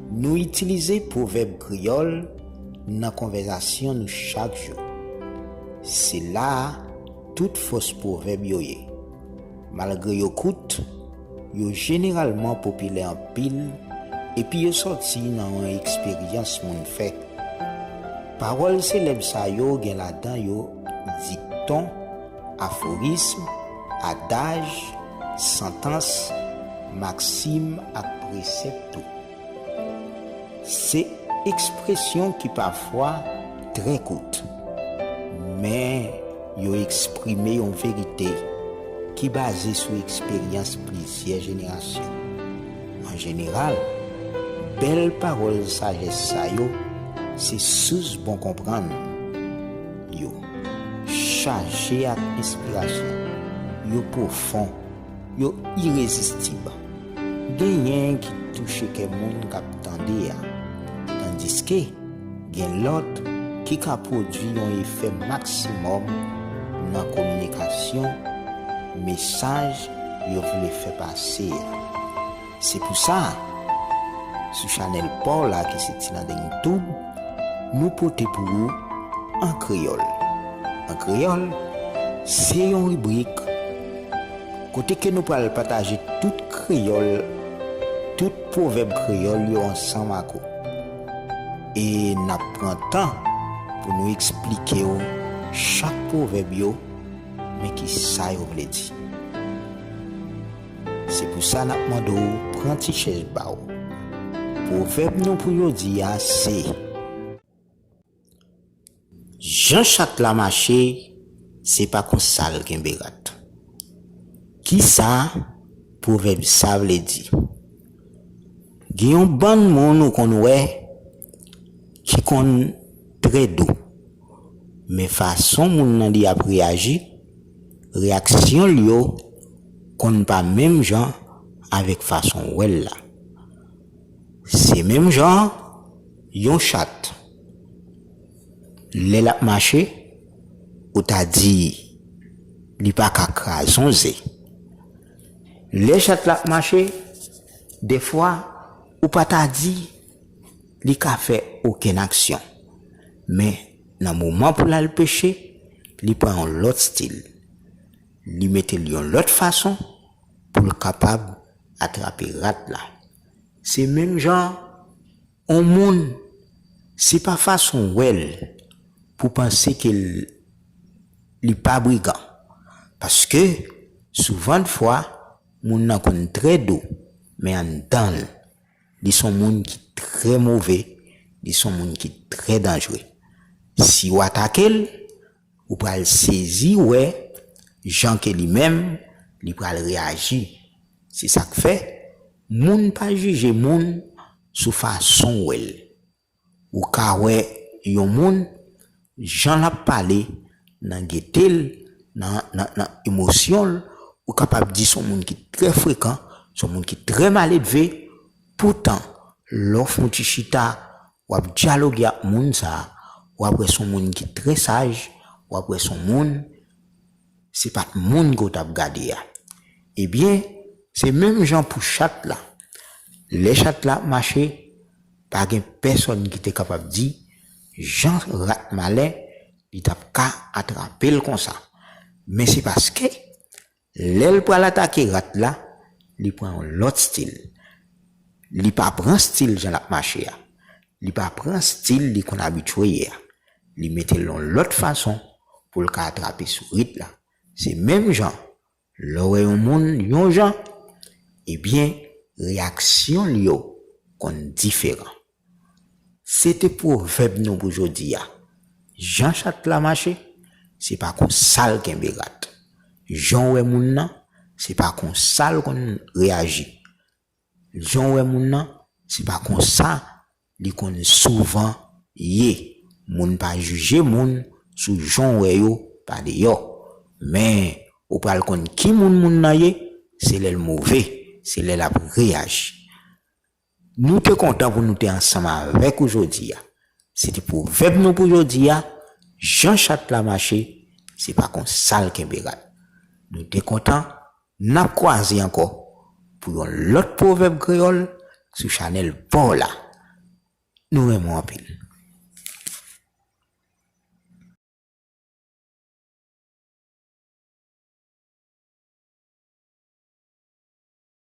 Nou itilize pwovèb kreyòl nan konvèzasyon nou chak jou. Se la a tout fòs pwovèb yo ye. Malgre yo kout, yo jeneralman popilè anpil epi yo sòti nan yon eksperyans moun fè. Pawòl selèb sa yo gen ladan yo dikton, aforism, adaj, santans, maksim ak presèp tou. Se ekspresyon ki pafwa trè kout, men yo eksprime yon verite ki baze sou eksperyans plizyè jenerasyon. An jeneral, bèl pawòl sajès sa yo se sous bon konprann. Yo chaje ak enspirasyon, yo pwofon. Yo irezistib. Genyen ki touche kè moun k ap tande a, tandiske gen lòt ki ka pwodui yon efè maksimòm nan kominikasyon mesaj yo vle fè pase a. Se pou sa, sou chanèl pa w la ki se Tilandeng Tube, nou pote pou ou An Kreyòl. An Kreyòl, se yon ribrik kote ke nou pral pataje tout kreyòl, tout pwovèb kreyòl yo ansanm ak ou. E n ap pran tan pou nou eksplike w chak pwovèb yo, men ki sa yo vle di. Se pou sa n ap mande w pran ti chèz pa w. Pwovèb nou pou jodi a se, Jan chat la mache, se pa konsa l kenbe rat. Ki sa pwovèb sa vle di? Gen yon bann moun ou konn wè ki konn trè dou, men fason moun nan li ap reyaji, Reyaksyon l yo konn pa menm jan avèk fason w wè l la. Se menm jan an, yon chat, lè l ap mache, ou ta di li pa ka kraze yon ze. Lè chat la ap mache, dèfwa ou pa ta di li ka fè okenn aksyon. Men. Nan moman pou l al peche, li pran yon lòt stil. Li mete l yon lòt fason pou l kapab atrape rat la. Se menm jan an, yon moun, se pa fason w wè l pou w panse ke li pa brigan. Paske, souvandfwa, moun nan konn trè dou, men anndan l. Li son moun ki trè move, li son moun ki trè danjre. Si ou atake l, ou pral sezi wè jan ke li menm li pral reyaji. Se sa k fè, moun pa jije moun sou fason w wè l. Ou ka wè yon moun, jan l ap pale, nan gete l, nan emosyon l, ou kapab di s on moun ki trè frekan, s on moun ki trè maledve. Poutan, lè w fè yon ti chita, w ap dyaloge ak moun sa a, w ap wè s on moun ki trè saj, w ap wè s on moun se pat moun ke w tap gade a ebyen se menm jan pou chat la lè chat la ap mache pa gen pèsòn ki te kapab di jan rat malen li tap ka atrape l konsa men se paske lè l pral atake rat la li pran yon lòt stil li pa pran stil jan lap mache a Li pa pran stil li konn abitye ye a. Li mete l yon lòt fason pou l ka atrape sou rit la. Se menm jan lè w wè yon moun yon jan, ebyen reyaksyon l yo konn diferan. Se te pwovèb nou pou jodi a, Jan chat la mache, se pa kon sa l kenbe rat. Jan w wè moun nan, se pa kon sa l konn reyaji. Jan w wè moun nan, se pa konsa li konn souvan ye. Moun pa jije moun sou jan w wè yo pa deyò. Men, ou pral konn ki moun moun nan ye, se lè l move, se lè l ap reyaji. Nou te kontan pou nou te ansanm avèk ou jodi a. Se te pwovèb nou pou jodi a, Jan chat la mache, se pa konsa l kenbe rad. Nou te kontan Nap kwaze ankò pou yon lòt pwovèb kreyòl sou chanèl paw la. Nou renmen w anpil.